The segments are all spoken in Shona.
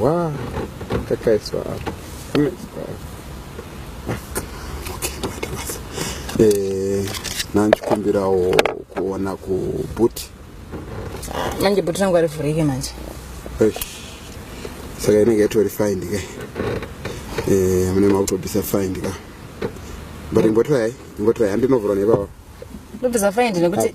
Wow, kakaiswa apa. Kakaiswa apa. nanchikumbirawo kuona kubhuti manje bhuti rangu arivhurike manje saka inenge yatori find ka eh, mune makutobvisa find ka but ingotirai ingotirai handinovhura neivava ndobvisa find nekuti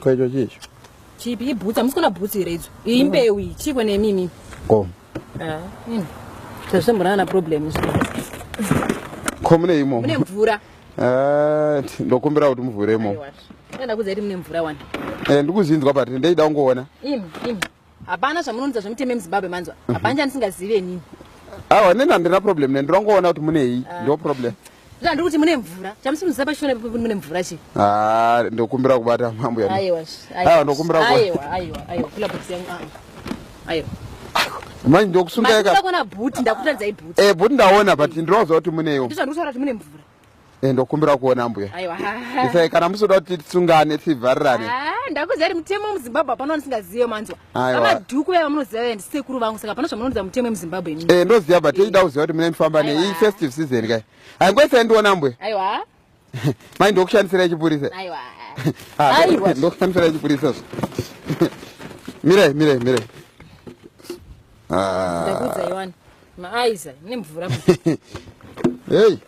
Ko icho chii icho? Chipi ibhutsa musikona bhutsi here idzo? Iyi mbeu iyi chiiko nemi imimi? Ko. Ah, ini. Tazvamborana na problem izvo. Ko mune imo. Mune mvura. Ah, ndokumbira kuti muvhure imo. Aiwa. Ndakudza kuti mune mvura wani. Eh, ndikuzinzwa but ndeida kungoona. Imi, imi. hapana zvamunounza zvemuteme muzimbabwe manzwa mhm. hapana chandisingazivi enini awa neni handina problem ne ndirongoona kuti munei ah. ndo problem zvandiri kuti mune mvura chamusimuziva pashona pekuti mune mvura chi ah, ndokumbira kubata mambo yaaiwa ndokumbira manje ndokusungaekona bhuti ndakutaridzai bhuti eh, bhuti ndaona but ndinoziva kuti muneiwo ndizvandiri kutaura kuti mune mvura Eh, ndokumbira kuona mbuya isai kana musoda kuti tisungane tivharirane ah, ndakuziva ri mutemo muzimbabwe hapana wanisingazive manzwa amadhuku vaya vamunoziva vaya ndisekuru vangu saka hapana zvamunonodza mutemo yemuzimbabwe imi eh, ndoziva but tichida eh. kuziva kuti mune mifamba nei iyi festive season kai haingoisai ndiona mbuya aiwa mai ndokushandisira chipurisa aiwa ah, ndokushandisira chipurisa zvo mirai mirai mirai ah. ndakuudzaiwani maaiza nemvura hei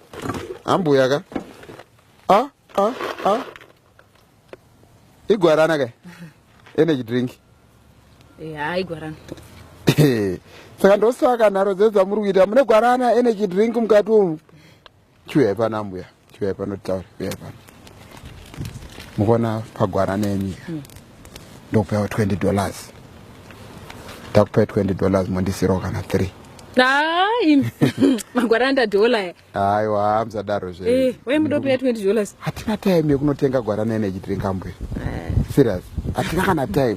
ambuya ka a a a igwarana ka energy drink ha igwarana saka ndosaka nharo dzedzamuri kuita mune gwarana energy drink mukati umu chiuyai pano ambuya chiuyai pano titaure uyai pano mukuona pagwara nemi hmm. ndokupewa 20 dollars ndakupai 20 dollars mondisirawo kana 3 magwara andadolaya aiwa hamsadaro zvewemudopeya eh, 20 dollars hatina time yekunotenga gwara nene chitiringambuya eh. serious hatina kana time